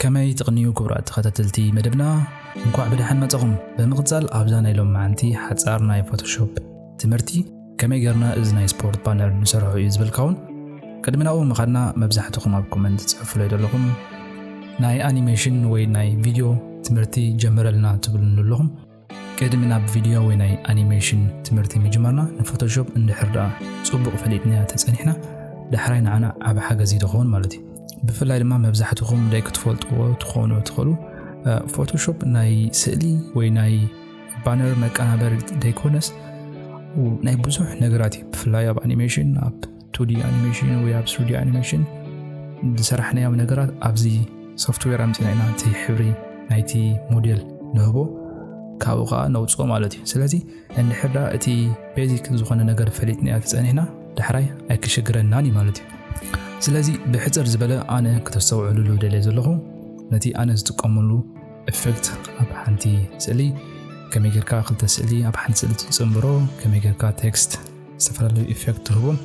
ከመይ ትቕንዩ ክቡራት ተኸታተልቲ መደብና እንኳዕ ብደሓን መጸኹም። ብምቕጻል ኣብዛ ናይ ሎም መዓንቲ ሓጻር ናይ ፎቶሾፕ ትምህርቲ ከመይ ገርና እዚ ናይ ስፖርት ባነር ንሰርሖ እዩ ዝበልካውን ቅድሚ ናብኡ ምኻድና መብዛሕትኹም ኣብ ኮመንት ጽሑፍለይ ዘለኹም ናይ ኣኒሜሽን ወይ ናይ ቪድዮ ትምህርቲ ጀምረልና ትብሉኒ ኣለኹም ቅድሚ ናብ ቪድዮ ወይ ናይ ኣኒሜሽን ትምህርቲ ምጅማርና ንፎቶሾፕ እንድሕር ደኣ ጽቡቕ ፈሊጥና ተጸኒሕና ዳሕራይ ንዓና ዓብ ሓገዝ ይደኸውን ማለት እዩ ብፍላይ ድማ መብዛሕትኹም ደይ ክትፈልጥዎ ትኾኑ ትኽእሉ ፎቶሾፕ ናይ ስእሊ ወይ ናይ ባነር መቀናበሪ ደይኮነስ ናይ ብዙሕ ነገራት እዩ ብፍላይ ኣብ ኣኒሜሽን ኣብ ቱዲ ኣኒሜሽን ወይ ኣብ ስቱዲ ኣኒሜሽን ዝሰራሕናዮም ነገራት ኣብዚ ሶፍትዌር ኣምፅና ኢና እቲ ሕብሪ ናይቲ ሞዴል ንህቦ ካብኡ ከዓ ነውፅኦ ማለት እዩ ስለዚ እንድሕዳ እቲ ቤዚክ ዝኾነ ነገር ፈሊጥናዮ ተፀኒሕና ዳሕራይ ኣይክሽግረናን እዩ ማለት እዩ ስለዚ ብሕፅር ዝበለ ኣነ ክተስተውዕሉሉ ደልየ ዘለኹ ነቲ ኣነ ዝጥቀመሉ ኤፌክት ኣብ ሓንቲ ስእሊ ከመይ ጌርካ ክልተ ስእሊ ኣብ ሓንቲ ስእሊ ትፅምብሮ ከመይ ጌርካ ቴክስት ዝተፈላለዩ ኢፌክት ትህቡን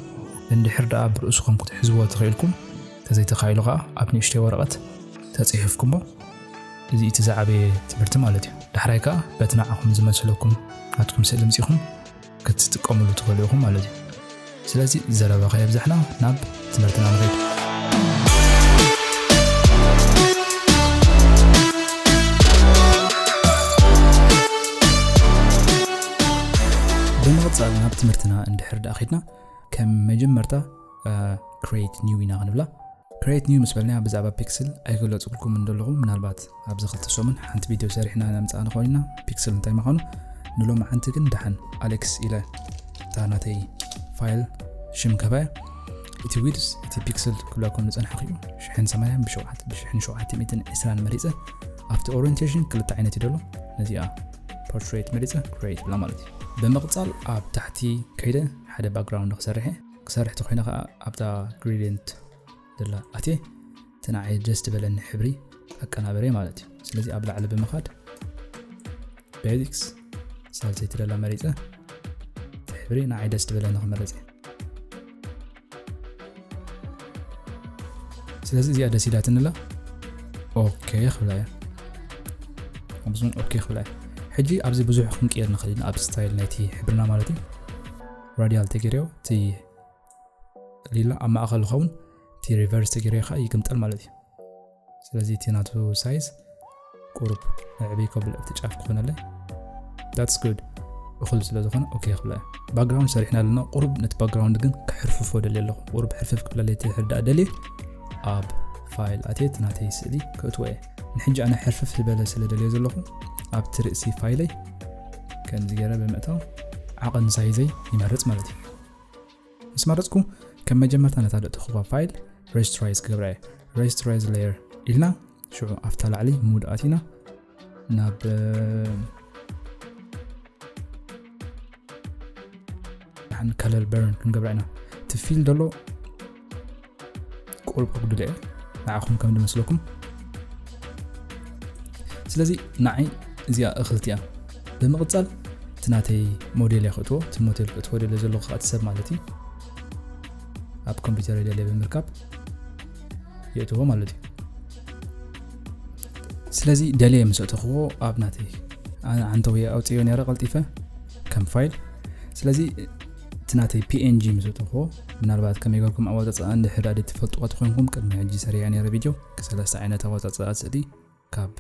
እንድሕር ደኣ ብርእስኹም ክትሕዝዎ ተኽኢልኩም ተዘይተኻኢሉ ከዓ ኣብ ንእሽተይ ወረቐት ተፅሒፍኩሞ እዚ እቲ ዝዓበየ ትምህርቲ ማለት እዩ ዳሕራይ ከዓ በቲ ንዓኹም ዝመስለኩም ናትኩም ስእሊ ምፂኹም ክትጥቀምሉ ትኽእሉ ኢኹም ማለት እዩ ስለዚ ዘረባ ከየብዛሕና ናብ ትምህርትና ንኺድ። ብምቕጻል ናብ ትምህርትና እንድሕር ደኣ ኺድና ከም መጀመርታ ክሬት ኒው ኢና ክንብላ ክሬት ኒው ምስ በልና ብዛዕባ ፒክስል ኣይገለጽኩልኩም እንደለኹ ምናልባት ኣብዚ ክልተ ሰሙን ሓንቲ ቪድዮ ሰሪሕና ነምጽኣን ኮይንና ፒክስል እንታይ ምዃኑ ንሎሚ ሓንቲ ግን ደሓን ኣሌክስ ኢለ እታ ናተይ ፋይል ሽም ገበ እቲ ዊድስ እቲ ፒክስል ክብለኩም ዝጸንሐኹ እዩ ሽሕን ሰማንያን ብሸውዓት ብሽሕን ሸውዓተ ሚእትን ዕስራን መሪጸ ኣብቲ ኦሪንቴሽን ክልተ ዓይነት እዩ ደሎ ነዚኣ ፖርትሬት መሪጸ ክሬት ብላ ማለት እዩ ብምቕጻል ኣብ ታሕቲ ከይደ ሓደ ባክግራውንድ ክሰርሐ ክሰርሕ ተኮይነ ከዓ ኣብታ ግሪድንት ደላ ኣትየ እቲ ንዓይ ደስ ዝበለኒ ሕብሪ ኣቀናበረይ ማለት እዩ ስለዚ ኣብ ላዕሊ ብምኻድ ቤዚክስ ሳልሰይቲ ደላ መሪፀ እቲ ሕብሪ ንዓይ ደስ ዝበለኒ ክመረፅ እየ ስለዚ እዚኣ ደስ ኢላትንላ ኦኬ ክብላ እያ ኣብዚን ኦኬ ክብላ እያ ሕጂ ኣብዚ ብዙሕ ክንቅየር ንኽእል ኢና ኣብ ስታይል ናይቲ ሕብርና ማለት እዩ ራዲያል ተገይርዮ እቲ ሊላ ኣብ ማእኸል ይኸውን እቲ ሪቨርስ ተገይረ ከዓ ይግምጠል ማለት እዩ ስለዚ እቲ ናቱ ሳይዝ ቁሩብ ዕብይ ከብል ኣብቲ ጫፍ ክኾነለይ ዳትስ ጉድ እኹል ስለ ዝኾነ ኦኬ ክብላ እዩ ባክግራውንድ ሰሪሕና ኣለና ቁሩብ ነቲ ባክግራውንድ ግን ክሕርፍፎ ደልየ ኣለኹ ቁሩብ ሕርፍፍ ክብለለይ ትሕርዳእ ደልየ ኣብ ፋይል ኣትየት ናተይ ስእሊ ክእትዎ እየ ንሕጂ ኣነ ሕርፍፍ ዝበለ ስለ ደልየ ዘለኹ ኣብቲ ርእሲ ፋይለይ ከምዚ ገይረ ብምእታው ዓቐን ሳይዘይ ይመርፅ ማለት እዩ ምስ መረጽኩ ከም መጀመርታ ነታ ደእቲ ኹባ ፋይል ሬጅስትራይዝ ክገብራ እየ ሬጅስትራይዝ ሌየር ኢልና ሽዑ ኣብታ ላዕሊ ምውድኣት ኢና ናብ ከለል በርን ክንገብራ ኢና እቲ ፊል ደሎ ቁሩብ ከጉድለ እየ ንዓኹም ከም ዝመስለኩም ስለዚ ንዓይ እዚኣ እኽልቲ እያ ብምቕፃል እቲ ናተይ ሞዴል እየ ክእትዎ እቲ ሞዴል ክእትዎ ደለ ዘለኹ ከዓ እቲ ሰብ ማለት እዩ ኣብ ኮምፒውተር ደለ ብምርካብ የእትዎ ማለት እዩ ስለዚ ደለየ ምስ እተኽዎ ኣብ ናተይ ዓንተውየ ኣውፅዮ ነረ ቀልጢፈ ከም ፋይል ስለዚ እቲ ናተይ png ምስ እተኹዎ ምናልባት ከመይ ገርኩም ኣወጻጽኣ እንድሕር ድኣ ትፈልጥዋ ተኾይንኩም ቅድሚ ሕጂ ሰሪዐ ነረ ቪድዮ ሰለስተ ዓይነት ኣወጻጽኣ ስእሊ ካብ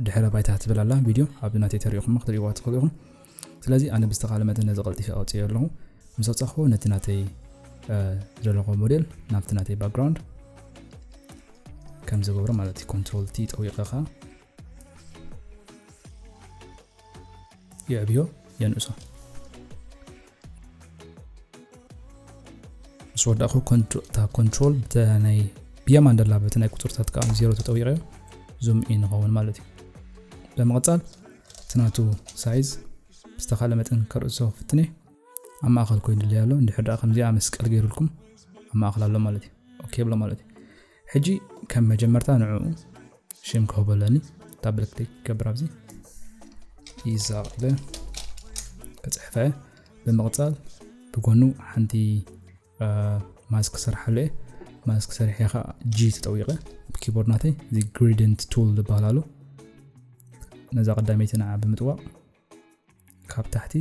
ድሕረ ባይታ ትብል ኣላ ቪድዮ ኣብ ናተይ ተሪኢኹማ ክትሪእዋ ትኽእሉ ኢኹም ስለዚ ኣነ ብዝተኻለ መጠን ነዚ ቀልጢፈ ኣውፅዮ ኣለኹ ምስ ኣውፃኹዎ ነቲ ናተይ ዝደለኹ ሞዴል ናብቲ ናተይ ባክግራውንድ ከም ዝገብሮ ማለት እዩ ኮንትሮል ቲ ጠዊቐኻ የዕብዮ የንእሶ ምስ ወዳእኹ እታ ኮንትሮል ናይ ብየማን ደላ በቲ ናይ ቁፅርታት ከዓ ዜሮ ተጠዊቀዮ ዙም ኢን ይኸውን ማለት እዩ ብምቕፃል እቲ ናቱ ሳይዝ ብዝተኻለ መጠን ከርእሶ ፍትነ ኣብ ማእኸል ኮይኑ ድለይ ኣሎ እንድሕር ከምዚኣ መስቀል ገይሩልኩም ኣብ ማእኸል ኣሎ ማለት እዩ ኦኬ ብሎ ማለት እዩ ሕጂ ከም መጀመርታ ንዕኡ ሽም ክህቦ ኣለኒ ዳብል ክሊክ ክገብር ኣብዚ ይዛቕ ኢለ ክፅሕፈ ብምቕፃል ብጎኑ ሓንቲ ማስክ ስርሓሉ እየ ማስክ ስርሐ ከዓ ጂ ተጠዊቐ ብኪቦርድ ናተይ እዚ ግሪደንት ቱል ዝበሃል ኣሎ ነዛ ቀዳመይቲ ንዓ ብምጥዋቕ ካብ ታሕቲ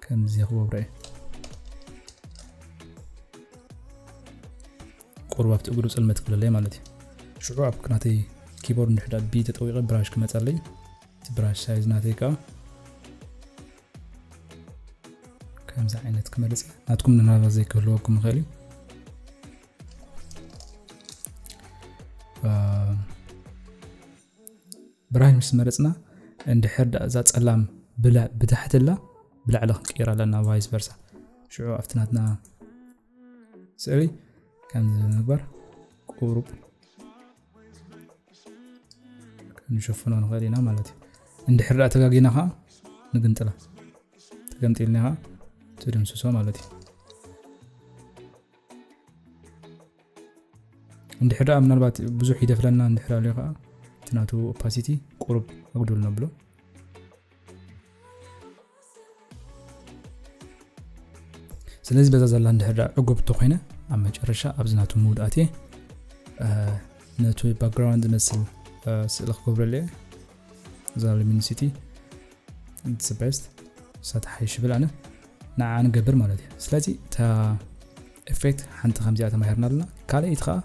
ከምዚ ክገብሮ እየ ቁሩብ ኣብቲ እግሩ ፅልመት ክብለለይ ማለት እዩ ሽዑ ኣብ ናተይ ኪቦርድ ንድሕዳ ቢ ተጠዊቐ ብራሽ ክመፀለይ እቲ ብራሽ ሳይዝ ናተይ ከዓ ከምዚ ዓይነት ክመልፅ ናትኩም ንናባ ዘይክህልወኩም ይኽእል እዩ ብራሂ ምስ መረጽና እንድሕር ድኣ እዛ ጸላም ብታሕቲ እላ ብላዕሊ ክንቅይራ ኣለና ቫይስ ቨርሳ ሽዑ ኣብቲ ናትና ስእሊ ከምዚ ብምግባር ቁሩብ ክንሸፍኖ ንኽእል ኢና ማለት እዩ እንድሕር ድኣ ተጋጊና ከዓ ንግንጥላ ተገምጢልና ከዓ ትድምስሶ ማለት እዩ እንድሕር ደኣ ምናልባት ብዙሕ ይደፍረና እንድሕር ኣልዮ ከዓ እቲ ናቱ ኦፓሲቲ ቁሩብ ኣጉዱል ነብሎ ስለዚ በዛ ዘላ እንድሕር ደኣ ዕጉብ እንተኮይነ ኣብ መጨረሻ ኣብዚ ናቱ ምውድ ኣትየ ነቲ ባክግራውንድ ዝመስል ስእሊ ክገብረሉ እየ ዛል ሚንሲቲ ኢትስ ቤስት ንሳ ትሓይሽ ይብል ኣነ ንዓ ንገብር ማለት እዩ ስለዚ እታ ኤፌክት ሓንቲ ከምዚኣ ተማሂርና ኣለና ካልኣይቲ ከዓ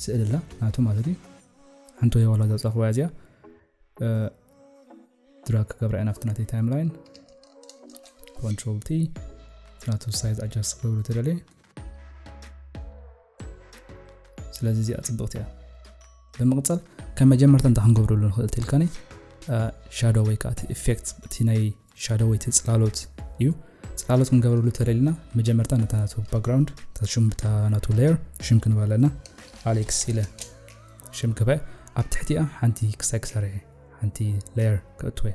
ስእሊ ኣላ ናቱ ማለት እዩ ሓንቲ ወይ ዋላ ዘውፃኹዋ እዚኣ ድራግ ክገብራ ኢና ኣብቲ ናተይ ታይም ላይን ኮንትሮል ቲ ናቱ ሳይዝ ኣጃስ ክገብሩ ተደልየ ስለዚ እዚኣ ፅብቕቲ እያ ብምቕፀል ከም መጀመርታ እንታ ክንገብረሉ ንኽእል ትልካኒ ሻዶ ወይ ከዓ እቲ ኢፌክት እቲ ናይ ሻዶ ወይ እቲ ፅላሎት እዩ ፅላሎት ክንገብረሉ ተደሊና መጀመርታ ነታ ናቱ ባክግራውንድ ሽም ብታ ናቱ ሌየር ሽም ክንባ ኣለና ኣሌክስ ኢለ ሽም ክበ ኣብ ትሕቲኣ ሓንቲ ክሳይ ክሰርሐ ሓንቲ ሌየር ክእትወ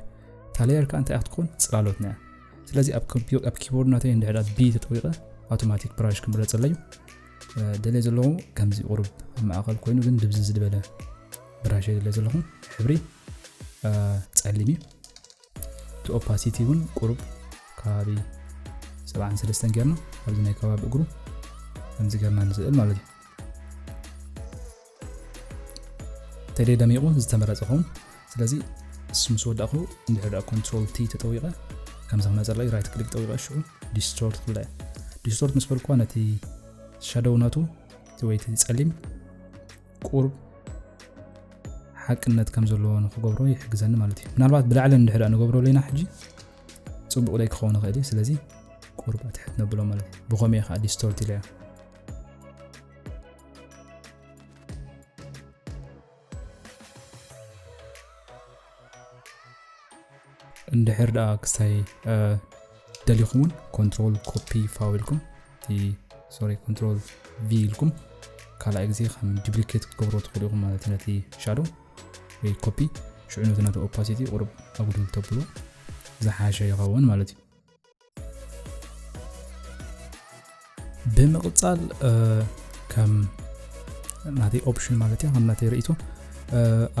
እታ ሌየር ከዓ እንታይ ክትኮን ፅላሎት ነያ ስለዚ ኣብ ኪቦርድ ናተይ እንድሕዳ ቢ ተጠዊቐ ኣውቶማቲክ ብራሽ ክምረፀለዩ ደለየ ዘለኹ ከምዚ ቁሩብ ኣብ ማእኸል ኮይኑ ግን ድብዚ ዝበለ ብራሽ ደለየ ዘለኹ ሕብሪ ፀሊም እዩ እቲ ኦፓሲቲ እውን ቁሩብ ከባቢ 73 ጌርና ኣብዚ ናይ ከባቢ እግሩ ከምዚ ጌርና ንስእል ማለት እዩ ተሌ ደሚቑ ዝተመረፀ ኹም ስለዚ እሱ ምስ ወዳእኹ እንድሕር ደኣ ኮንትሮል ቲ ተጠዊቐ ከምዚ ክመፀለይ ራይት ክሊክ ጠዊቐ ሽዑ ዲስቶርት ክብላ ዲስቶርት ምስ በልኳ ነቲ ሻደው ናቱ እቲ ወይ እቲ ፀሊም ቁርብ ሓቅነት ከም ዘለዎ ንክገብሮ ይሕግዘኒ ማለት እዩ ምናልባት ብላዕሊ እንድሕር ንገብሮ ኣለና ሕጂ ፅቡቕ ደይ ክኸውን ይኽእል እዩ ስለዚ ቁርብ ኣትሕት ነብሎ ማለት እዩ ብኸምኡ ከዓ ዲስቶርት ኢለያ እንድሕር ደኣ ክሳይ ደሊኹም እውን ኮንትሮል ኮፒ ፋው ኢልኩም እቲ ሶሪ ኮንትሮል ቪ ኢልኩም ካልኣይ ግዜ ከም ዱፕሊኬት ክትገብሮ ትኽእሉ ኢኹም ማለት እዩ ነቲ ሻዶ ወይ ኮፒ ሽዑ ነቲ ነቲ ኦፓሲቲ ቁርብ ኣጉድል ተብሎ ዝሓሸ ይኸውን ማለት እዩ ብምቕፃል ከም ናተይ ኦፕሽን ማለት እያ ከም ናተይ ርእቶ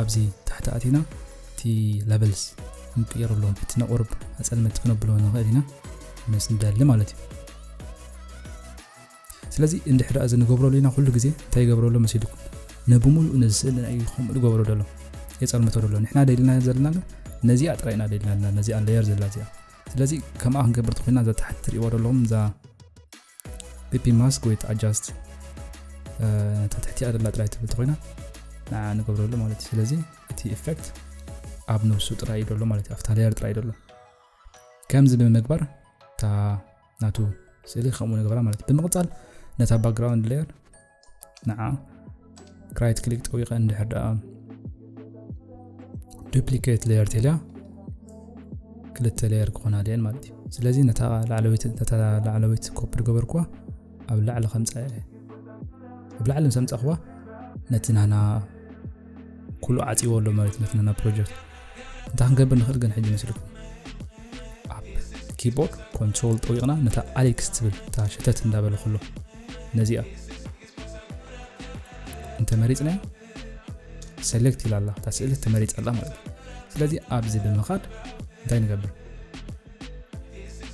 ኣብዚ ታሕቲ ኣቲና እቲ ለቨልስ ክንቅየሩ ኣለዎም እቲ ነቑርብ ኣፀልመቲ ክነብሎ ንኽእል ኢና ምስ ንደሊ ማለት እዩ ስለዚ እንድሕር እዚ ንገብረሉ ኢና ኩሉ ግዜ እንታይ ይገብረሉ መሲልኩም ንብምሉእ ነዚ ስእሊ ናይ ከምኡ ዝገብሮ ደሎ የፀልምቶ ደሎ ንሕና ደልና ዘለና ነዚኣ ጥራይ ኢና ደልና ነዚኣ ለየር ዘላ እዚኣ ስለዚ ከምኣ ክንገብር ትኮይና እዛ ታሕቲ ትሪእዋ ዘለኹም እዛ ፒፒ ማስክ ወይ ኣጃስት እታ ትሕቲኣ ደላ ጥራይ ትብል ትኮይና ንዓ ንገብረሉ ማለት እዩ ስለዚ እቲ ኢፌክት ኣብ ነብሱ ጥራይ እዩ ደሎ ማለት እዩ ኣብታ ሌየር ጥራይ ደሎ ከምዚ ብምግባር እታ ናቱ ስእሊ ከምኡ ንገብራ ማለት እዩ ብምቕፃል ነታ ባክግራውንድ ሌየር ንዓ ራይት ክሊክ ጠዊቀ እንድሕር ደኣ ዱፕሊኬት ሌየር ተልያ ክልተ ሌየር ክኾና ድየን ማለት እዩ ስለዚ ነታ ላዕለወይቲ ኮፒ ዝገበርኩዋ ኣብ ላዕሊ ከምፃ እየ ኣብ ላዕሊ ምስ ኣምፃእኹዋ ነቲ ናና ኩሉ ዓጺዎ ኣሎ ማለት ነት ነና ፕሮጀክት እንታይ ክንገብር ንኽእል ግን ሕጂ መስልኩም ኣብ ኪቦርድ ኮንትሮል ጠዊቕና ነታ ኣሌክስ ትብል እታ ሸተት እንዳበለ ከሎ ነዚኣ እንተመሪፅናያ ሰሌክት ኢላ ኣላ እታ ስእሊ ተመሪፅ ኣላ ማለት እዩ ስለዚ ኣብዚ ብምኻድ እንታይ ንገብር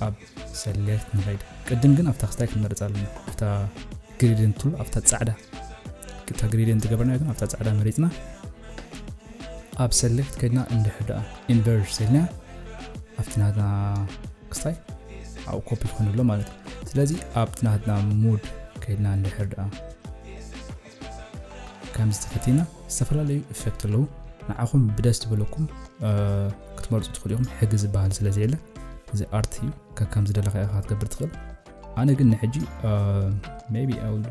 ኣብ ሰሌክት ንኸይድ ቅድም ግን ኣብታ ክስታይ ክንመርፅ ኣለና ኣብታ ግሪድን ቱል ኣብታ ፃዕዳ እታ ግሪድን ዝገበርና ግን ኣብታ ፃዕዳ መሪፅና ኣብ ሰሌክት ከድና እንድሕር ደኣ ኢንቨርጅ ዘልና ኣብቲ ናትና ክስታይ ኣብኡ ኮፒ ክኾኑ ኣሎ ማለት እዩ ስለዚ ኣብቲ ናትና ሙድ ከድና እንድሕር ደኣ ከምዚ ተፈቲና ዝተፈላለዩ ኢፌክት ኣለዉ ንዓኹም ብደስ ትብለኩም ክትመርፁ ትኽእሉ ኢኹም ሕጊ ዝበሃል ስለ ዘየለ እዚ ኣርት እዩ ከከም ዝደለካ ኢኻ ክትገብር ትኽእል ኣነ ግን ንሕጂ ቢ ኣሉ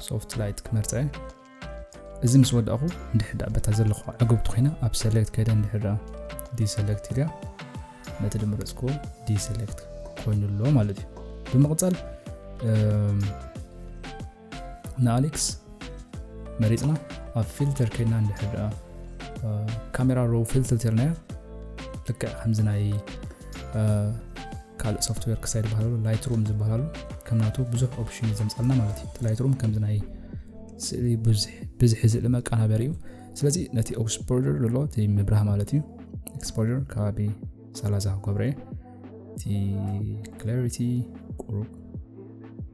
ሶፍት ላይት ክመርፀ እዚ ምስ ወዳእኹ እንድሕዳ በታ ዘለኹ ዓገብቲ ኮይና ኣብ ሰሌክት ከይደ እንድሕዳ ዲሰሌክት ኢልያ ነቲ ድመረፅክዎ ዲሰሌክት ኮይኑ ኣሎ ማለት እዩ ብምቕፃል ንኣሌክስ መሪፅና ኣብ ፊልተር ከይድና እንድሕር ድኣ ካሜራ ሮ ፊልተርናዮ ልክዕ ከምዚ ናይ ካልእ ሶፍትዌር ክሳይ ዝበሃሉ ላይት ሩም ዝበሃሉ ከም ናቱ ብዙሕ ኦፕሽን እዩ ዘምፃልና ማለት እዩ ላይት ሩም ከምዚ ናይ ስእሊ ብዝሒ ስእሊ መቀናበር እዩ ስለዚ ነቲ ኤክስፖር ዘሎ እቲ ምብራህ ማለት እዩ ኤክስፖር ከባቢ ሰላሳ ክገብረ እቲ ክላሪቲ ቁሩብ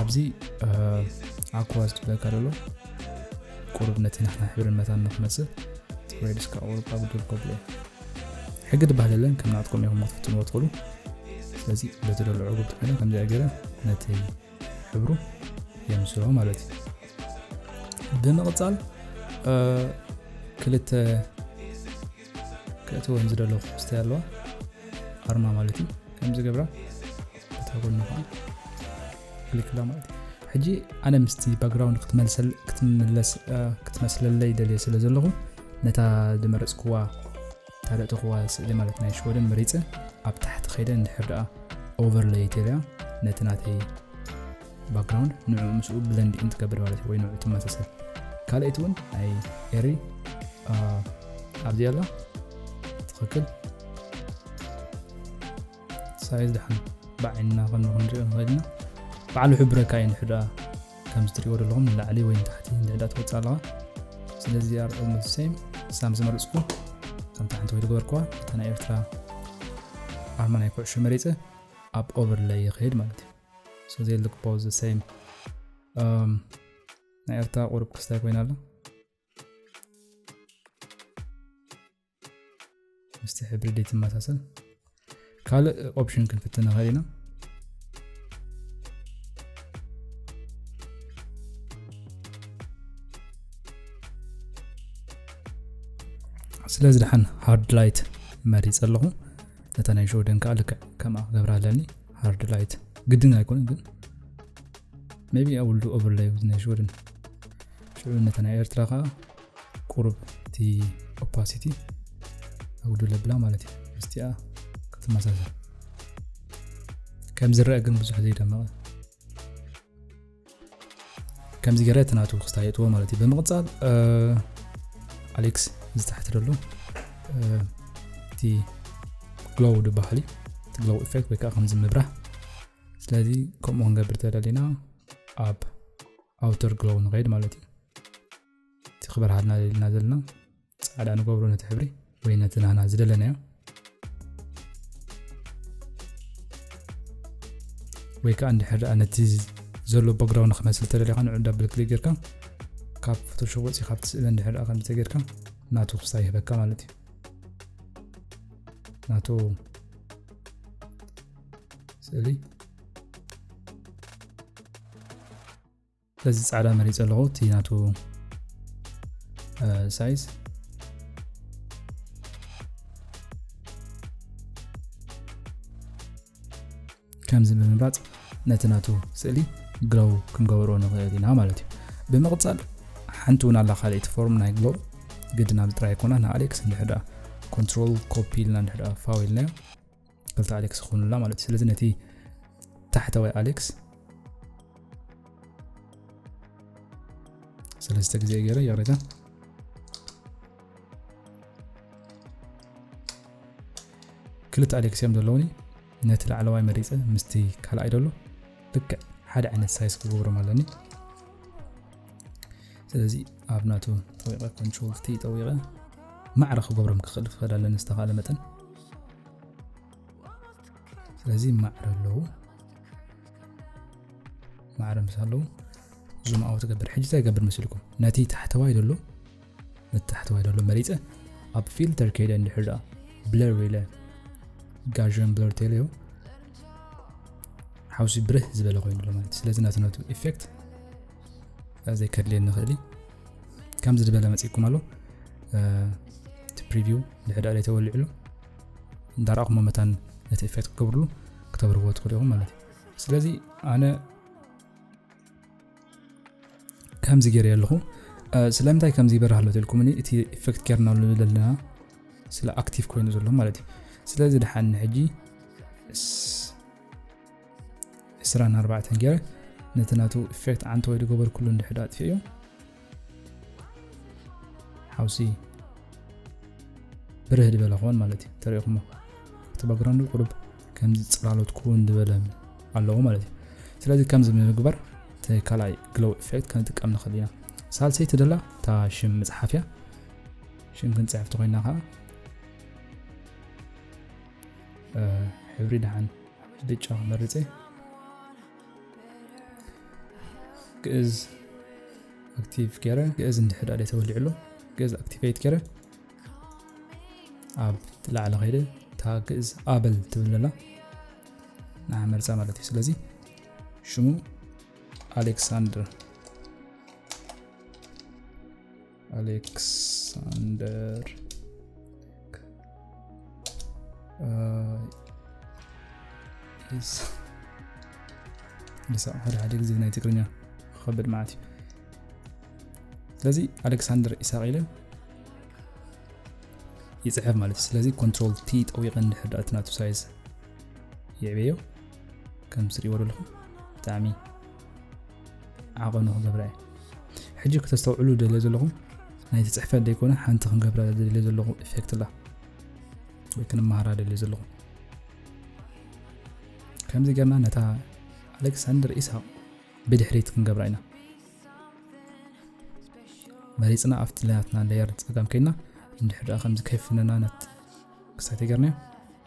ኣብዚ ኣኮዋ ዝትብለካ ደሎ ቁሩብ ነቲ ንሕና ሕብርን መታን ንክመፅእ ወይ ድስካ ቁሩብ ካብ ግድር ከብሎ ሕጊ ድባህል የለን ከም ናትኩም ኢኹም ክትፍትንዎ ትኽእሉ ስለዚ በቲ ደሎ ዕጉብ ትኾይነ ከምዚኣ ገይረ ነቲ ሕብሩ የምስሎ ማለት እዩ ብምቕፃል ክልተ ክእትወን ዝደለኹ ክስታይ ኣለዋ ኣርማ ማለት እዩ ከምዚ ገብራ እታ ጎኒ ከዓ ክሊክላ ማለት እዩ ሕጂ ኣነ ምስቲ ባክግራውንድ ክትመስለለይ ደልየ ስለ ዘለኹ ነታ ዝመረፅክዋ ታደእተኽዋ ስእሊ ማለት ናይ ሽወደን መሪፀ ኣብ ታሕቲ ከይደ እንድሕር ደኣ ኦቨርለይ ተልያ ነቲ ናተይ ባክግራውንድ ንዑ ምስኡ ብለንድ ኢን ትገብር ማለት ወይ ንዑ ትመሳሰል ካልኣይቲ እውን ናይ ኤሪ ኣብዚ ኣላ ትኽክል ሳይዝ ድሓን ብዓይንና ከነ ክንሪኦ ንኽእል ኢና ባዕሉ ሕብረካ እዩ ንሕዳ ከም ዝትሪእዎ ዘለኹም ንላዕሊ ወይ ንታሕቲ ንድሕዳ ትወፅእ ኣለዋ ስለዚ ኣር ኦልሞስት ሴም ሳም ዝመረፅኩ ከም ታሕንቲ ወይ ዝገበርክዋ እታ ናይ ኤርትራ ኣርማ ናይ ኩዕሾ መሪፀ ኣብ ኦቨርላይ ይኽሄድ ማለት እዩ so they look both the same um ናይ ኤርትራ ቁሩብ ክስታይ ኮይና ኣሎ ምስቲ ሕብሪ ደይ ትመሳሰል ካልእ ኦፕሽን ክንፍትን ንኽእል ኢና ስለዚ ድሓን ሃርድ ላይት መሪፀ ኣለኹ ነታ ናይ ሾደን ከዓ ልክዕ ከምኣ ክገብራ ኣለኒ ሃርድ ላይት ግድን ኣይኮነ ግን ቢ ኣብ ውልዱ ኦቨርላይ ናይ ሽወደን ሽዑ ነተ ናይ ኤርትራ ከዓ ቁሩብ እቲ ኦፓሲቲ ኣጉዱ ለብላ ማለት እዩ ምስቲኣ ክትመሳሰል ከም ዝረአ ግን ብዙሕ ዘይደመቐ ከምዚ ገረ እቲ ናቱ ክስታ የጥዎ ማለት እዩ ብምቕፃል ኣሌክስ ዝተሕቲ ደሎ እቲ ግሎው ድበሃል እዩ እቲ ግሎው ኢፌክት ወይ ከዓ ከምዚ ምብራህ ስለዚ ከምኡ ክንገብር ተደሊና ኣብ ኣውተር ግሎው ንኸይድ ማለት እዩ እቲ ክበርሃልና ደሊና ዘለና ፃዕዳ ንገብሮ ነቲ ሕብሪ ወይ ነቲ ናህና ዝደለናዮ ወይ ከዓ እንድሕር ደኣ ነቲ ዘሎ ባግራውንድ ክመስል ተደሊኻ ንዑ ዳብል ክሊክ ጌርካ ካብ ፎቶሾፕ ወፂ ካብቲ ስእሊ እንድሕር ደኣ ከምዚ ተጌርካ ናቱ ክስታ ይህበካ ማለት እዩ ናቱ ስእሊ ስለዚ ጻዕዳ መሪጸ ኣለኹ እቲ ናቱ ሳይዝ ከምዚ ብምምራጽ ነቲ ናቱ ስእሊ ግሎው ክንገብሮ ንኽእል ኢና ማለት እዩ ብምቕጻል ሓንቲ እውን ኣላ ካልእቲ ፎርም ናይ ግሎው ግድን ኣብዚ ጥራይ ኣይኮና ንኣሌክስ እንድሕር ኮንትሮል ኮፒ ኢልና እንድሕር ፋው ኢልናዮ ክልተ ኣሌክስ ክኾኑላ ማለት እዩ ስለዚ ነቲ ታሕተዋይ ኣሌክስ ሰለስተ ግዜ ገይረ ይቕሬታ ክልተ ኣሌክስ እዮም ዘለውኒ ነቲ ላዕለዋይ መሪፀ ምስቲ ካልኣይ ደሎ ልክዕ ሓደ ዓይነት ሳይዝ ክገብሮም ኣለኒ ስለዚ ኣብ ናቱ ጠዊቐ ኮንትሮል ቲ ጠዊቐ ማዕረ ክገብሮም ክኽእል ክኸድ ኣለኒ ዝተኻእለ መጠን ስለዚ ማዕረ ኣለዉ ማዕረ ምስ ኣለዉ ዙም ኣው ትገብር ሕጂ እንታይ ገብር መስልኩም ነቲ ታሕተዋይ ደሎ ነቲ ታሕተዋይ ደሎ መሪፀ ኣብ ፊልተር ከይደ እንድሕር ደኣ ብለር ኢለ ጋዥን ብለር ተለዮ ሓውሲ ብርህ ዝበለ ኮይኑ ኣሎ ማለት ስለዚ ናትነቱ ኢፌክት ዘይከድልየ ንኽእል እዩ ከምዚ ዝበለ መፅኩም ኣሎ እቲ ፕሪቪው ድሕዳ ላይ ተወሊዕሉ እንዳረእኹሞ መታን ነቲ ኤፌክት ክገብርሉ ክተብርዎ ትኽእሉ ኢኹም ማለት እዩ ስለዚ ኣነ ከምዚ ገይረ ኣለኹ ስለምንታይ ከምዚ ይበርህ ኣሎ ትልኩምኒ እቲ ኤፌክት ጌርናሉ ዘለና ስለ ኣክቲቭ ኮይኑ ዘሎ ማለት እዩ ስለዚ ድሓኒ ሕጂ ዕስራን ኣርባዕተን ገይረ ነቲ ናቱ ኢፌክት ዓንተ ወይ ዝገበርኩሉ እንድሕዶ ኣጥፊኡ ሓውሲ ብርህ ዝበለ ክኸውን ማለት እዩ ተሪእኹሞ እቲ ባግራንዱ ቁሩብ ከምዚ ፅላሎት ክውን ዝበለ ኣለዎ ማለት እዩ ስለዚ ከምዚ ምግባር እቲ ካልኣይ ግሎው ኢፌክት ክንጥቀም ንኽእል ኢና ሳልሰይቲ ደላ እታ ሽም ምፅሓፍ እያ ሽም ክንፅሕፍቲ ኮይና ከዓ ሕብሪ ድሓን ብጫ መርጼ ግእዝ ኣክቲቭ ገረ ግእዝ እንድሕር ዳኣ ተወሊዑ ኣሎ ግእዝ ኣክቲቬት ገረ ኣብ ላዕሊ ከይደ እታ ግእዝ ኣበል ትብል ኣላ ንዓ መርፃ ማለት እዩ ስለዚ ሽሙ ኣሌክሳንደር አሌክሳንደር ኢሳቅ ሓደ ሓደ ግዜ ናይ ትግርኛ ክኸብድ ማለት እዩ ስለዚ ኣሌክሳንደር ኢሳቅ ኢለ ይፅሕፍ ማለት እዩ ስለዚ ኮንትሮል ቲ ጠዊቀ እንድሕር ዳእቲ ናቱ ሳይዝ ይዕበዮ ከም ስሪዎ ዘለኹም ብጣዕሚ ዓቐኑ ክገብራ እየ ሕጂ ክተስተውዕሉ ደልዮ ዘለኹም ናይቲ ፅሕፈት ዘይኮነ ሓንቲ ክንገብራ ደልዮ ዘለኹ ኢፌክት ላ ወይ ክንመሃራ ደልዮ ዘለኹ ከምዚ ገርና ነታ ኣሌክሳንደር ኢሳቅ ብድሕሪት ክንገብራ ኢና መሪፅና ኣብቲ ለያትና ለየር ፀጋም ከይና እንድሕር ደኣ ከምዚ ከይፍነና ነት ክሳይ ተገርናዮ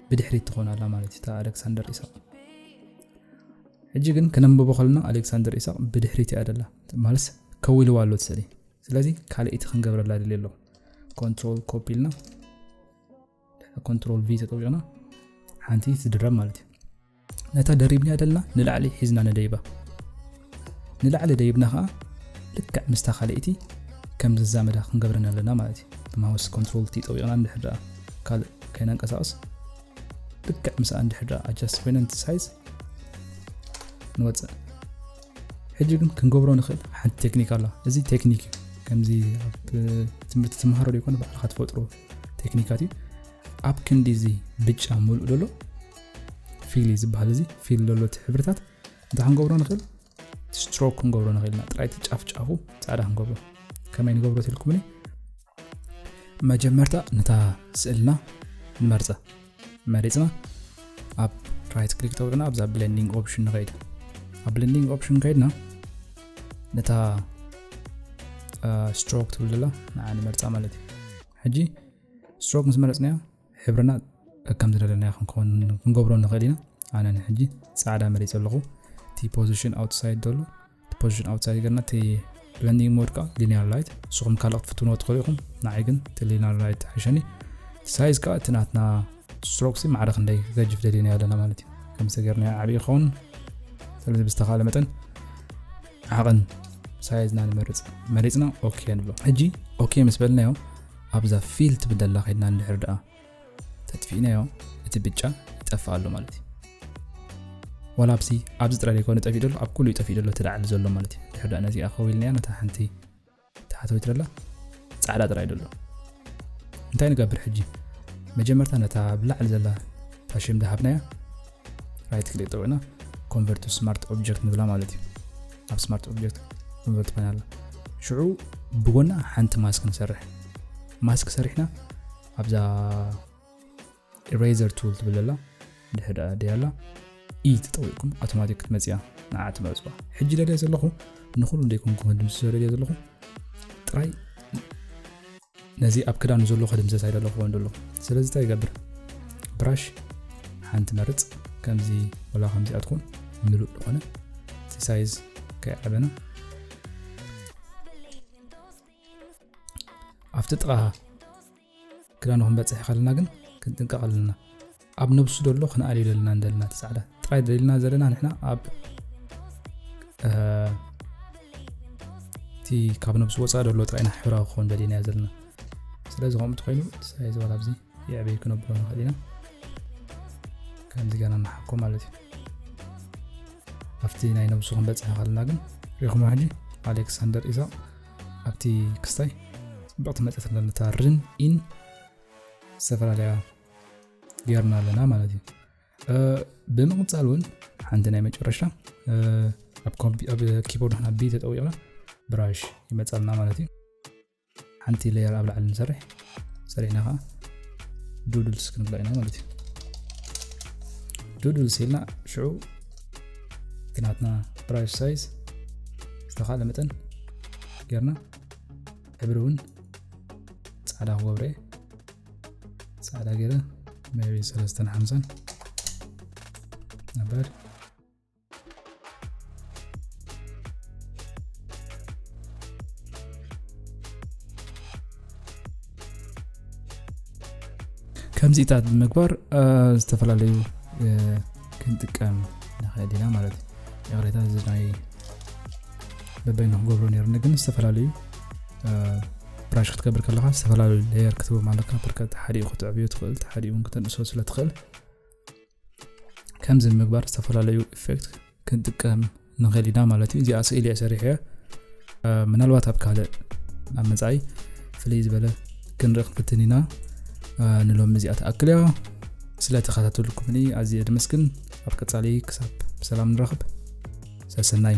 ብድሕሪት ትኾን ኣላ ማለት እዩ ኣሌክሳንደር ኢሳቅ ሕጂ ግን ክነንብቦ ከለና ኣሌክሳንደር ኢሳቕ ብድሕሪት ኢያ ደላ ማለትስ ከው ኢልዋ ኣሎ እቲ ስእሊ ስለዚ ካልእቲ ክንገብረላ ድልየ ኣሎ ኮንትሮል ኮፒ ኢልና ኮንትሮል ቪ ተጠዊቕና ሓንቲ ትድረብ ማለት እዩ ነታ ደሪብና ደልና ንላዕሊ ሒዝና ንደይባ ንላዕሊ ደይብና ከዓ ልክዕ ምስታ ካልእቲ ከም ዝዛመዳ ክንገብረን ኣለና ማለት እዩ ማውስ ኮንትሮል ቲ ጠዊቕና ንድሕር ደኣ ካልእ ከይነንቀሳቕስ ልክዕ ምስኣ እንድሕር ደኣ ኣጃስት ኮይነ ነቲ ሳይዝ ንወፅእ ሕጂ ግን ክንገብሮ ንኽእል ሓንቲ ቴክኒክ ኣላ እዚ ቴክኒክ እዩ ከምዚ ኣብ ትምህርቲ ትምሃሮ ዘይኮነ ባዕልካ ትፈጥሮ ቴክኒካት እዩ ኣብ ክንዲ እዚ ብጫ ምሉእ ዘሎ ፊል እዩ ዝበሃል እዚ ፊል ዘሎ እቲ ሕብርታት እንታይ ክንገብሮ ንኽእል ስትሮክ ክንገብሮ ንኽእል ኢና ጥራይቲ ጫፍ ጫፉ ፃዕዳ ክንገብሮ ከመይ ንገብሮ ትልኩምኒ መጀመርታ ነታ ስእልና ንመርጸ መሪጽና ኣብ ራይት ክሊክ ተውልና ኣብዛ ብለንዲንግ ኦፕሽን ንኸይድ ኣብ ብለንዲንግ ኦፕሽን ከይድና ነታ ስትሮክ ትብል ዘላ ንዓ ንመርጻ ማለት እዩ ሕጂ ስትሮክ ምስ መረጽናያ ሕብርና ከም ዝደለናዮ ክንከውን ክንገብሮ ንኽእል ኢና ኣነ ንሕጂ ጻዕዳ መሪጸ ኣለኹ እቲ ፖዚሽን ኣውትሳይድ ደሎ እቲ ፖዚሽን ኣውትሳይድ ገርና እቲ ብለንዲንግ ሞድ ከዓ ሊኒያር ላይት ንስኹም ካልእ ክትፍትንዎ ትኽእሉ ኢኹም ንዓይ ግን እቲ ሊኒያር ላይት ሓሸኒ ሳይዝ ከዓ እቲ ናትና ስትሮክሲ ማዕረ ክንደይ ክገጅፍ ደሊና ኣለና ማለት እዩ ከምዚ ገርና ዓብዪ ይኸውን ስለዚ ብዝተኻለ መጠን ዓቕን ሳይዝና ንመርፅ መሪፅና ኦኬ ንብሎ ሕጂ ኦኬ ምስ በልናዮ ኣብዛ ፊል ትብል ደላ ከድና እንድሕር ድኣ ተጥፊእናዮ እቲ ብጫ ይጠፍእ ኣሎ ማለት እዩ ዋላ ኣብሲ ኣብዚ ጥራይ ዘይኮነ ጠፊኡ ደሎ ኣብ ኩሉ እዩ ጠፊኡ ደሎ እቲ ላዕሊ ዘሎ ማለት እዩ ድሕር ድኣ ነዚኣ ከዊልናያ ነታ ሓንቲ ተሓተዊት ደላ ጻዕዳ ጥራይ ደሎ እንታይ ንገብር ሕጂ መጀመርታ ነታ ብላዕሊ ዘላ ታሽም ደሃብናያ ራይት ክሊክ ጠውዕና ኮንቨርት ስማርት ኦብጀክት ንብላ ማለት እዩ ኣብ ስማርት ኦብጀክት ኮንቨርት ኮይና ኣላ ሽዑ ብጎና ሓንቲ ማስክ ንሰርሕ ማስክ ሰሪሕና ኣብዛ ኢረይዘር ቱል ትብል ኣላ ድሕሪ ድኣ ደይ ኣላ ኢ ተጠዊቕኩም ኣውቶማቲክ ክትመፅያ ንዓ ትመርፅዋ ሕጂ ደልየ ዘለኹ ንኹሉ ደይኮንኩም ክድምስሶ ደልየ ዘለኹ ጥራይ ነዚ ኣብ ክዳኑ ዘሎ ከድምሰስ ኣይደለኹዎን ዘሎ ስለዚ እንታይ ይገብር ብራሽ ሓንቲ መርፅ ከምዚ ወላ ከምዚ ኣትኩን ምሉእ ዝኾነ ሲሳይዝ ከይዓበና ኣብቲ ጥቓ ክዳኑ ክንበጽሕ ከለና ግን ክንጥንቀቕ ኣለና ኣብ ነብሱ ደሎ ክንኣልዩ ደለና እንደለና እቲ ጻዕዳ ጥራይ ደልና ዘለና ንሕና ኣብ እቲ ካብ ነብሱ ወፃእ ደሎ ጥራይና ሕብራዊ ክኸውን ደሊና ዘለና ስለዚ ከምኡ እንተኮይኑ ሳይ ዝበል ኣብዚ የዕበይ ክነብሎ ንኽእል ኢና ከምዚ ገና ንሓኮ ማለት እዩ ኣብቲ ናይ ነብሱ ክንበፅሕ ከለና ግን ሪኹማ ሕጂ ኣሌክሳንደር ኢሳቅ ኣብቲ ክስታይ ፅብቕቲ መፅት ኣለነታ ርን ኢን ዝተፈላለያ ጌርና ኣለና ማለት እዩ ብምቕፃል እውን ሓንቲ ናይ መጨረሻ ኣብ ኪቦርድ ና ቢ ተጠዊቕና ብራሽ ይመፃልና ማለት እዩ ሓንቲ ለየር ኣብ ላዕሊ ንሰርሕ ሰሪዕና ከዓ ዱዱልስ ክንብሎ ኢና ማለት እዩ ዱዱልስ ኢልና ሽዑ ግናትና ብራሽ ሳይዝ ዝተካለ መጠን ጌርና ሕብሪ እውን ፃዕዳ ክገብረ ፃዕዳ ገይረ መቢ ሰለስተን ሓምሳን ነበር ከምዚታት ብምግባር ዝተፈላለዩ ክንጥቀም ንኽእል ኢና ማለት እዩ ይቕሬታ እዚ ናይ በበይኑ ክገብሮ ነርኒ ግን ዝተፈላለዩ ብራሽ ክትገብር ከለካ ዝተፈላለዩ ሌየር ክትቦ ኣለካ ብርከት ሓዲኡ ክትዕብዮ ትኽእል ሓዲኡ እውን ክተንእሶ ስለ ትኽእል ከምዚ ምግባር ዝተፈላለዩ ኢፌክት ክንጥቀም ንኽእል ኢና ማለት እዩ እዚኣ ስእሊ እየ ሰሪሐ ምናልባት ኣብ ካልእ ኣብ መፃኢ ፍልይ ዝበለ ክንርኢ ክንፍትን ኢና ንሎሚ እዚኣ ትኣክል እያ ስለ ተኸታተልኩምኒ ኣዝየ ድምስግን ኣብ ቀፃሊ ክሳብ ብሰላም ንረኽብ ሰሰናዩ